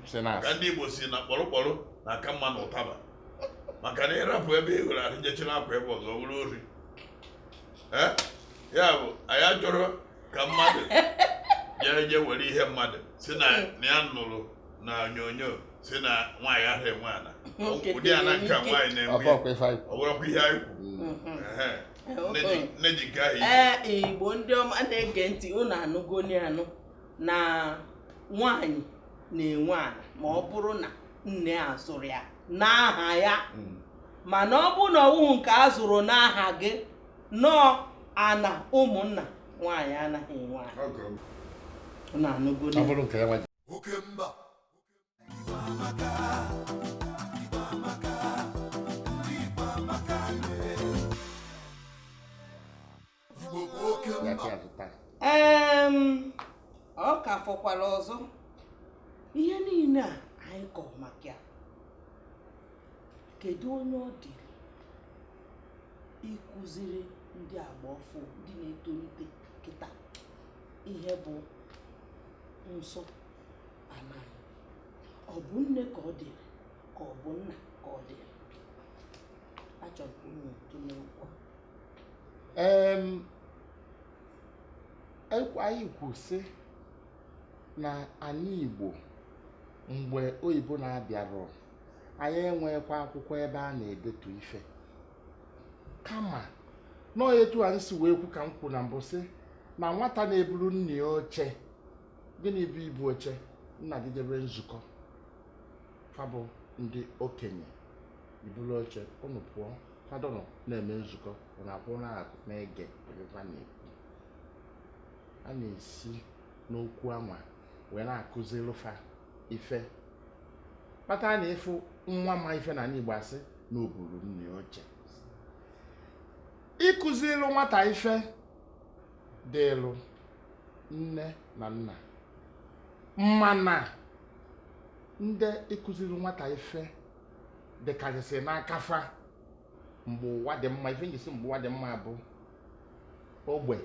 ka ndị Igbo si na kpọrọkpọrọ na-aka mma na ụtaba maka na ịrapụ ebe ị wụrụ ahụ je chiri akwa ebe ọzọ bụrụ ori ya bụ anyị achọrọ ka mmadụ jee je were ihe mmadụ si na ya nụrụ na onyonyo si na nwaanyị ahụ enwe ana ụdị ana nke nwaanyị na-enwe ọ bụrụkwa ihe anyị kwu mm-hmm. ee igbo ndị ọma na-ege ntị unu anụgoni anụ na nwanyị na-enwe ana ma ọ bụrụ na nne a zụrụ ya n'aha ya hmm. mana ọ bụrụ na ọ wụhụ nke a zụrụ n'aha gị nọọ ana ụmụnna nwaanyị anaghị enwe ana ọ ka fọkwara ọzọ ihe niile a anyị kọrọ maka ya kedu onye ọ dịrị ịkụziri ndị agba ọfụụ ndị na-etonite kịta ihe bụ nsọ ọ bụ nne ka ọ dịrị ka ọ bụ nna ka ọ dịrị achọrọ m unu tụlee okwu a. anyị kwu sị na anyị Igbo mgbe oyibo na-abịarọ anyị enweghịkwa akwụkwọ ebe a na-edetu ife kama nọọ etu anyị si wee kwu ka m kwu na mbụ sị na nwata na-eburu nna ya oche gịnị bụ ibu oche nna gị jebe nzukọ fa bụ ndị okenye i buru oche ụnụ pụọ fa dọnọ na-eme nzukọ ụnụ akwụ n'akụkụ na-ege ebe fa na-ekwu a na-esi n'okwu anwa wee na-akụziri fa ife kpata na ị fụ nwa ma ife na igbo asị na o buru nna ya oche ịkụziri nwata ife dịlụ nne na nna mana ndị ịkụziri nwata ife dịkarịsị n'aka fa mgbe ụwa dị mma ife m ji si mgbe ụwa dị mma bụ ogbe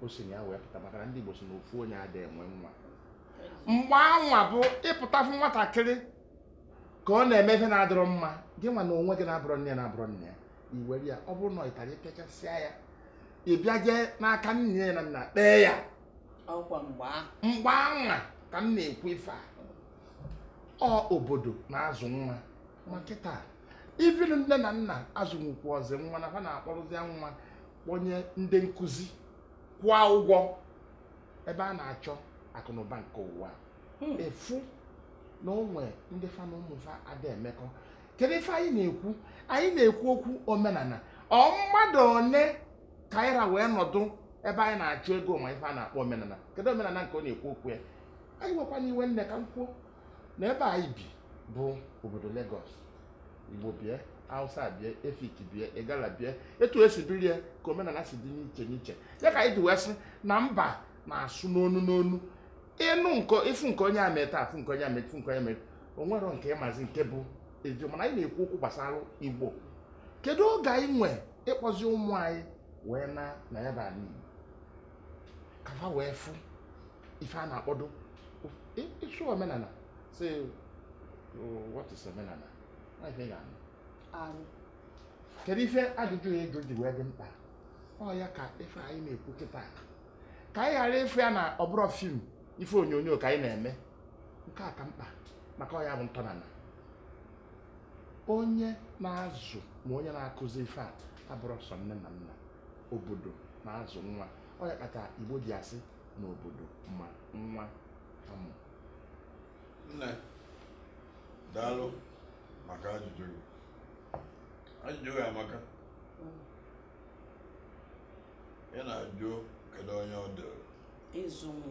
o si na ya wee pụta maka na ndị Igbo si na ofu onye adịghị enwe nwa mgbe anwa bụ ị pụta fụ nwatakịrị ka ọ na-eme ife na-adịrọ mma gị nwa na onwe gị na-abụrọ nne ya na-abụrọ nna ya iwere ya ọ bụrụ na ọ ịtara ịpịachasịa ya ị bịa jee n'aka nne ya na nna kpee ya ọkwa mgbe mgbe anwa ka m na-ekwu ife a ọ obodo na-azụ nwa ma kịta even nne na nna azụnwukwọzi nwa na ha na-akpọrọzie nwa kpọnye ndị nkụzi kwụọ ụgwọ ebe a na-achọ akụnụba nke ụwa ị fụ na o nwe ndị fa na ụmụ fa ada emekọ kedu ife anyị na-ekwu anyị na-ekwu okwu omenala ọ mmadụ one ka anyị ra wee nọdụ ebe anyị na-achọ ego ma ife a na-akpọ omenala kedu omenala nke ọ na-ekwu okwu ya ewekwana iwe nne ka m kwuo na ebe anyị bi bụ obodo Lagos Igbo bie Hausa bie Efik bie Igala bie etu e si biri ya ka omenala si dị n'iche n'iche ya ka anyị ji wee sị na mba na-asụ n'onu n'onu ị nụ nke ị fụ nke onye a me taa a fụ nke onye a me fụ nke onye a me o nwerọ nke ị mazi nke bụ eziokwu mana anyị na-ekwu okwu gbasara igbo kedu oge anyị nwe ịkpọzi ụmụ anyị wee naa na ya bụ ala igbo ka fa wee fụ ife a na-akpọdụ ị- ị sị omenala sị what is omenala Ọ ife ị ga-anụ. arụ kedu ife ajụjụ a ị jụ ji wee dị mkpa ọ ya ka ife anyị na-ekwu kịta ka anyị ghara ịfụ ya na ọ bụrụ fim ife onyonyo ka anyị na-eme nke a ka mkpa maka ọ ya bụ ntọnala onye na-azụ ma onye na-akụzi ife a abụrọ sọ nne na nna obodo na-azụ nwa ọ ya kpata igbo ji asị na obodo ma nwa a mụ nne daalụ maka ajụjụ gị ajụjụ gị amaka ị na-ajụ kedu onye ọ dịrị ịzụ m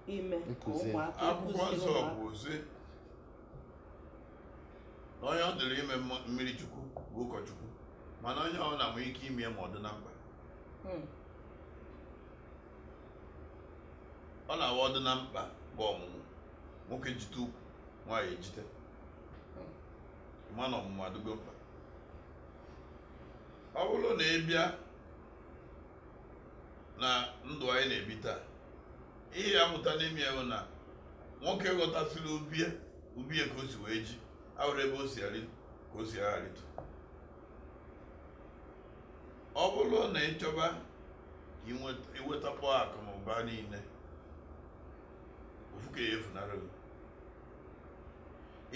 ime ka Nkụzi. ụmụaka akwụkwọ kụziri nsọ ụmụaka. bụ ozi na onye ọ dịrị ime mma- mmiri chukwu bụ ụkọchukwu mana onye ọbụna nwee ike ime ya ma ọ dị na mkpa Hmm. ọ na-awa ọ dị na mkpa bụ ọmụmụ nwoke jite ukwu nwaanyị ejite mana ọmụmụ adịgo mkpa ọ bụrụ na ị bịa na ndụ anyị na-ebi taa ihe a mụta n'ime ya bụ na nwoke ghọtasịrị ube ube ka o si wee ji awụrụ ebe o si arị ka o si aga arịtu ọ bụrụ na ị chọba ka inweta- iwetakpọ akụ na ụba niile ofu nke ya efunarị gị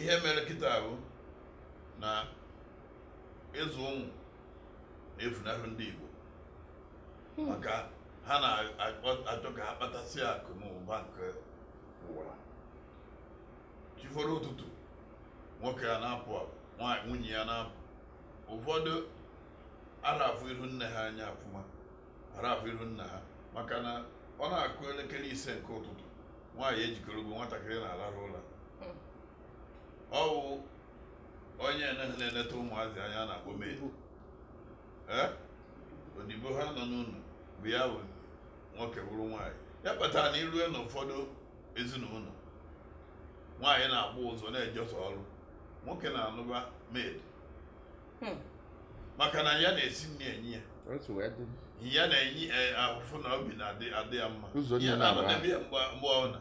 ihe mere kịta bụ na ịzụ ụmụ na-efunahụ ndị Igbo hmm. maka ha na-achọ ka ha kpatasị akụ na ụba nke ụwa chi foro ụtụtụ nwoke a na-apụ apụ nwaanyị nwunye ya na-apụ ụfọdụ ara afụ ihu nne ha anya ọfụma ara afụ ihu nna ha maka na ọ na-akụ elekere ise nke ụtụtụ nwaanyị ejikerego nwatakịrị na-alarụ ụla hmm. ọ wụ onye ahụ na-eneta ụmụazị anya a na-akpọ maid Eh? odibo ha nọ n'ụlọ bụ ya bụ nwoke bụrụ nwaanyị ya kpatara na i rue n'ụfọdụ ezinụlọ nwaanyị na-agba ụzọ na-ejesi ọrụ nwoke na-anụba maid Hmm. maka na ya na-esi nri enye ya otu wee dị ya na-enye eh, ahụfụ na obi na-adị adị ya mma Ụzọ ya niile na-abụ. na-anọdebe ya mgbe mgbe ọbụla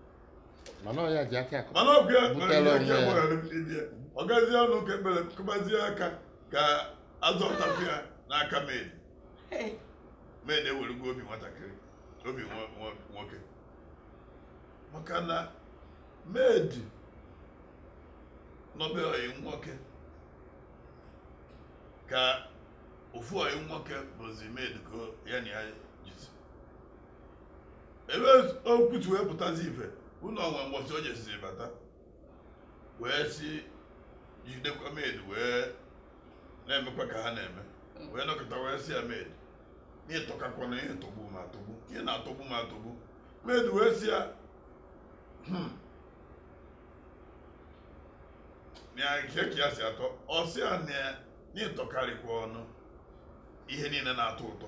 mana ọ ya ji aka akụ mana ọ bụ ya mere Butere ya onwe ike ya. gbaghara di ya ọ gazie ụlọ ụka ekpere kụbazie aka ka a zọpụtakwu ya n'aka maid maid ewerugo obi nwatakịrị obi nwa- nwa- nwoke maka na maid nọbe ọyị nwoke ka ofu ọyị nwoke bụzi maid ka ya na ya jizi ebe okwu si wee pụtazi ife bụ na o nwe mbọsị o jesiri bata wee si jidekwa maid wee na-emekwa ka ha na-eme wee nọkọta wee sị ya maid na ị tọkakwa na ihe tọgbu m atọgbu ihe na-atọgbu m atọgbu maid wee sị ya "Hmm, na kee ka ya si atọ ọ sị ya na ị tọkarịkwanụ ihe niile na-atọ ụtọ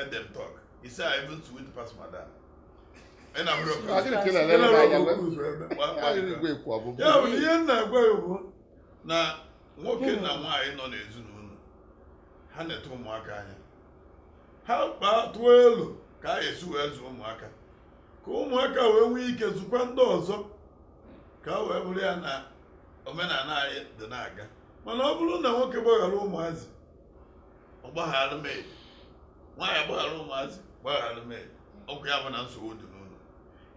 edem talk he say i even sweet pass madam ị na mụrụ Ọ dịrị ka ị na-elele m anya, mgbe- ọ dịrị igwe ekwu ọbụbụ. ya bụ na ihe m na-agwa ya bụ na nwoke na nwaanyị nọ n'ezinụlọ ha neta ụmụaka anya ha kpaa tụọ elo ka a ya-esi wee zụọ ụmụaka ka ụmụaka wee nwee ike zụkwa ndị ọzọ ka o wee bụrụ ya na omenala anyị dị na-aga mana ọ bụrụ na nwoke gbaghara ụmụazị ọ gbaghara maid nwaanyị gbaghara ụmụazị gbaghara maid okwu ya bụ na nsogbu dị n'ụlọ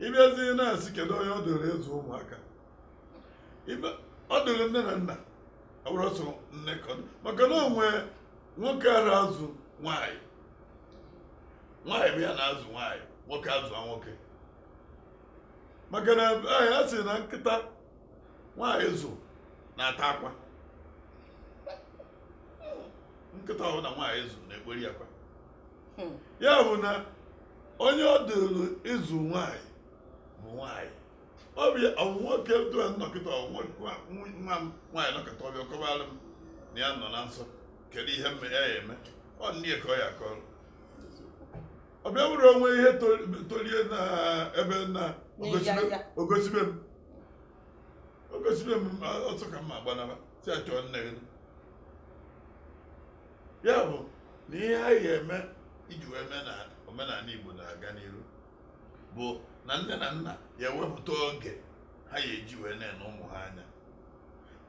ị bịazi na-asị kedu onye ọ dịrị ịzụ ụmụaka Ibe- ọ dịrị nne na nna ọ bụrọ sọ nne ka ọ dị. maka na o nwe nwoke ara azụ nwaanyị nwaanyị bụ ya na-azụ nwaanyị nwoke azụ nwoke maka na anyị a sị na nkịta nwaanyị zụ na-ata akwa nkịta ọbụna nwaanyị zụ na-ekpori akwa Hmm. ya bụ na onye ọ dịrị ịzụ nwaanyị bụ nwaanyị ọ bụ ya ọ mụ nwoke dụa nọkịta ọ mụ nwa nwa m nwaanyị nọkịta ọ bịa kọbara m na ya nọ na nsọ kedu ihe m ya eme ọ nne ka ọ ya akọrọ ọ bịa bụrụ o nwee ihe tol- tolie na ebe na N'ịja nja. o gosibe m o gosibe m a- ọsọ ka m ya agbanaba sị ya chọọ nne gị ya bụ na ihe anyị ga-eme iji wee mee na omenala igbo na-aga n'iru bụ na nne na nna ya ewepụta oge ha ya eji wee na-ene ụmụ ha anya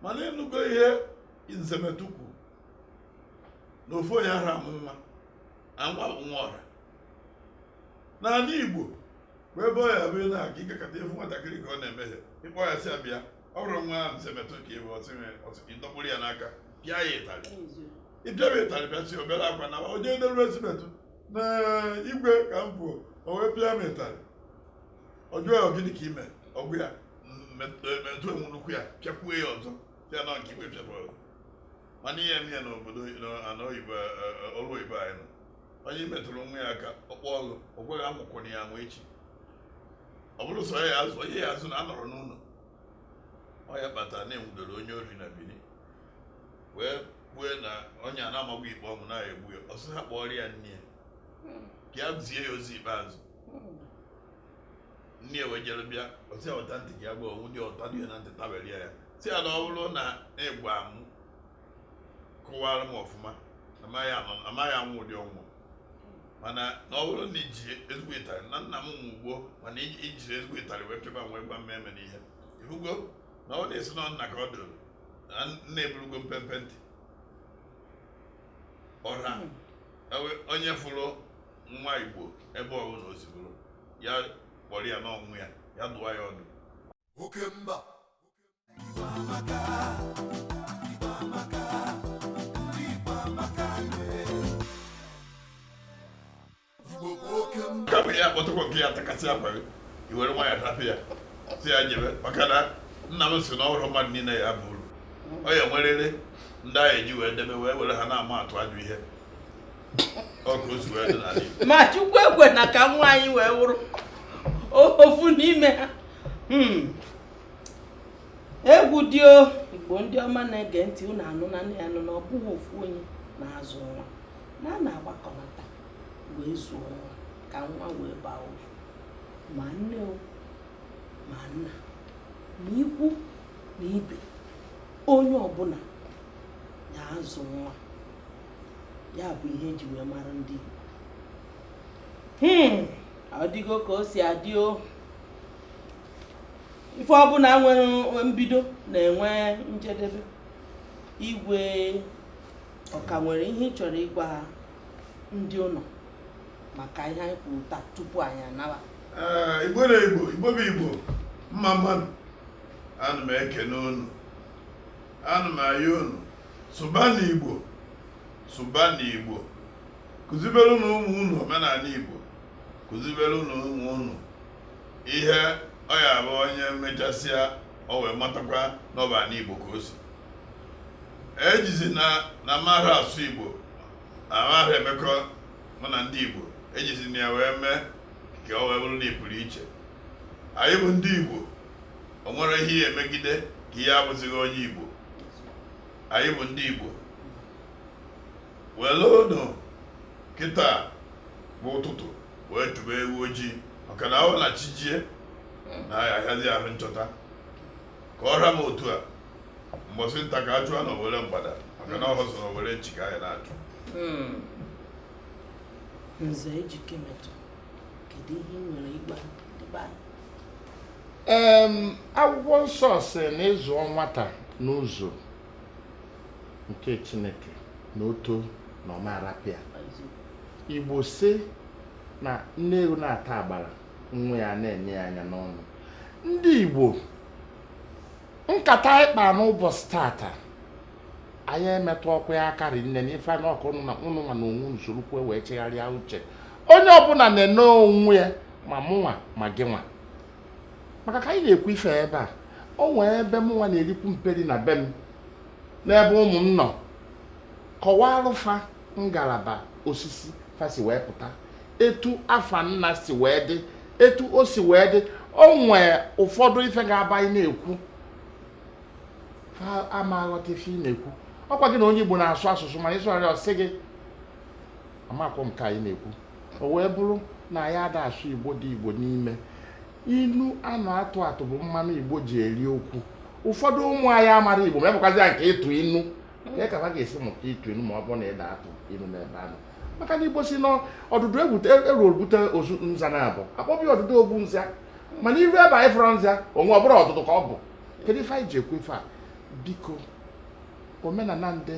mana ị nụgo ihe Nze Metụ kwu na ofu onye ara amụ nwa na nwa bụ nwa ọra n'ala igbo bụ ebe ọ ya bụ ị na-aga ị gakọta ị fụ nwatakịrị ka ọ na-emehie ị kpọ ya sị ya bịa ọ bụrụ nwa ahụ Nze Metụ ka ọ bụ ọtụ nwere ọtụ ka ị dọkpụrụ ya n'aka pịa ya ịtarị ị pịa ya ịtarị pịasịa o bere akwa naa o jee delu Nze Metụ na igwe ka m fụ o wee pịa m ịtarị ọ jụọ ya gịnị ka i me ọ gwa ya Metụ eweru nnukwu ya pịakwuo ya ọzọ ya na nke igwe pịara ọzọ mana i je mee ya n'obodo ana oyibo e, e, e, ọrụ oyibo anyị nọ onye metụrụ nwa ya aka ọ kpọọ ọgụ o kweghị amụkwụrụ ya nwa echi ọ bụrụ sọ ya azụ onye ya azụ na anọrọ n'ụnọ ọ ya kpata na e nwudoro onye ori na Bini wee kwue na onye a na amagwo ikpe ọnwụ na a ya egbu ya ọ sị ha kpọọrọ ya nne ya ka ya zie ya ozi ikpeazụ nne ya wee jere bịa ọ sị ya weta ntị gị agwa o nwude ọ tade ya na ntị tabelie ya sị ya na ọ bụrụ na ị gwa m kọwara m ọfụma amaghị anọ- amaghị anwụ ụdị ọnwụ mana na ọ bụrụ na i ji ezigbo ịtarị na nna m nwụ gboo mana i ji i jiri ezigbo ịtarị wee pịaba m wee gwa m emena ihe ị hụgo na ọ na a sị na nna ka ọ dụrụ na nna eburugo mpempe ntị ọra ewe- onye fụrụ nwa igbo ebe ọbụla o si bụrụ ya kpọrọ ya na nwa ya ya dụwa ya ọdụ oke mba kama ya kpọtụkwa nke ya takasị akwa gị i were nwa ya rapụ ya sị ya jebe maka na nna m sị na ọ bụrọ mmadụ niine ya aba uru ọ ya enweriri ndị a ya eji wee debe wee were ha na-ama atụ ajọ ihe ma chukwu ekwena ka nwa anyị wee wụrụ ofu n'ime ha hmm. egwu dị o igbo ndị ọma na-ege ntị unu anụnanụ ya nụ na ọ bụghị ofu onye na-azụ nwa na a na-agbakọnata wee zụọ nwa ka nwa wee baa uru ma nne o ma nna ma ikwu na ibe onye ọbụla na-azụ nwa ya bụ ihe eji wee mara ndị Igbo hmm. ọ dịgo ka o si adị o ife ọbụla nwere mbido na-enwe njedebe igwe ọka nwere ihe ị chọrọ ịgwa ndị ụlọ maka ihe anyị kwuru taa tupu anyị anawa eh, igbo na igbo igbo bụ igbo mma mma nụ ana m ekene unu ana m ayọ unu sụbanụ igbo sụbanụ igbo kụzibere unu ụmụ unu omenala igbo kụzibere unu ụmụ unu ihe ọ ya abụ onye mechasịa o wee matakwa na ọ bụ anị igbo ka o si ejizina na mara asụ igbo na mara emekọ mụ na ndị igbo ejizina ya wee mee ka o wee bụrụ na ị pụrụ iche anyị bụ ndị igbo o nwere ihe ị ya-emegide ka ihe abụzighị onye Igbo anyị bụ ndị Igbo werenụ kịta bụ ụtụtụ wee chụba ewu ojii maka na ọ wụ na chi jie na ọ ya-ahịazi ahụ nchọta ka ọ ra m otu a mbọsị nta ka a chụọ n'owere mgbada maka na ọ họ sọ n'owere nchi ka anyị na-achụ Nze ejike metụ. akwụkwọ nsọ sị na ị zụọ nwata n'ụzọ nke chineke na o too na ọ ma-arapụ ya igbo sị na nne ewu na-ata agbara nwa ya na-ene ya anya n'ọnụ ndị igbo nkata anyị kpa n'ụbọchị tata anyị emetụọkwa ya aka rinne na ife na ọkụ ụnụ na ụnụ nwa na onwe unu soro kwuo wee chegharịa uche onye ọbụla na-ene onwe ya ma mụnwa ma gị nwa maka ka anyị na-ekwu ife ebe a o nwee ebe mụnwa na-erikwu mperi na be m n'ebe ụmụ m nọ kọwarụ fa ngalaba osisi fa si wee pụta etu afa nna si wee dị etu o si wee dị o nwee ụfọdụ ife ga-abụ anyị na-ekwu ha ama aghọta ife ị na-ekwu ọkwa gị na onye Igbo na-asụ asụsụ mana ịsụgharị ọ sị gị amakwọ m nke ị na-ekwu o wee bụrụ na anyị ada asụ Igbo dị Igbo n'ime inu a na-atụ atụ bụ mmanụ Igbo ji eri okwu ụfọdụ ụmụ anyị amarọ Igbo ma ebụkwazi ya nke ịtụ inu ka ka ha ga-esi mụta ịtụ inu ma ọ bụrụ na ị da atụ inu n'ebe ha nọ maka na Igbo sị na ọdụdụ egwu eru ogbute ozu nza naabọ a kpọbi ọdụdụ ogbu nza mana iru ebe anyị fọrọ nza onwe ọ bụrụ ọdụdụ ka ọ bụ kedu ife anyị ji ekwu ife a biko omenala ndị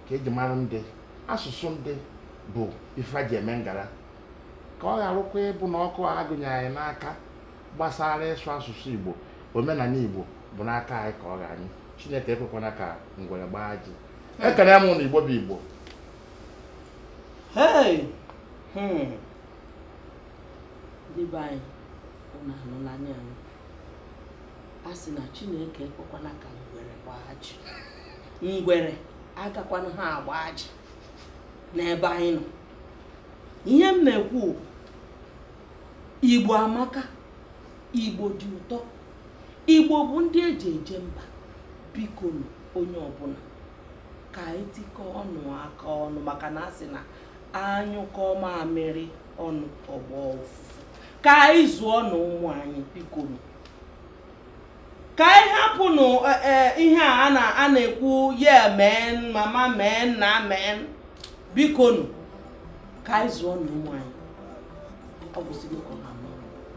ka eji mara ndị asụsụ ndị bụ ife e ji eme ngara ka ọ gharụkwa ịbụ na ọkụ a gụnye anyị n'aka gbasara ịsụ asụsụ igbo omenala igbo bụ n'aka anyị ka ọ ga-anyụ chineke ekwekwana ka ngwere gbaa ajị ekene m ụnụ igbo bụ igbo Hey! Hmm. ndị be anyị ụnụ anụlanụ ya nụ a sị na chineke ekwekwana ka ngwere gbaa ajị ngwere agakwanụha agba ajị n'ebe anyị nọ ihe m na-ekwu bụ, igbo amaka igbo dị ụtọ igbo bụ ndị eji eje mba biko nụ onye ọbụla ka anyị tikọọ ọnụ aka ọnụ maka na a sị na a nyụkọọ mamịrị ọnụ ọ gbọọ ụfụfụ ka anyị zụọnụ ụmụ anyị biko nụ ka anyị hapụnụ e, e, ihe a a na-ekwu yeah men mama men nna men biko nụ ka anyị zụọnụ ụmụ anyị ọ gwụsịgo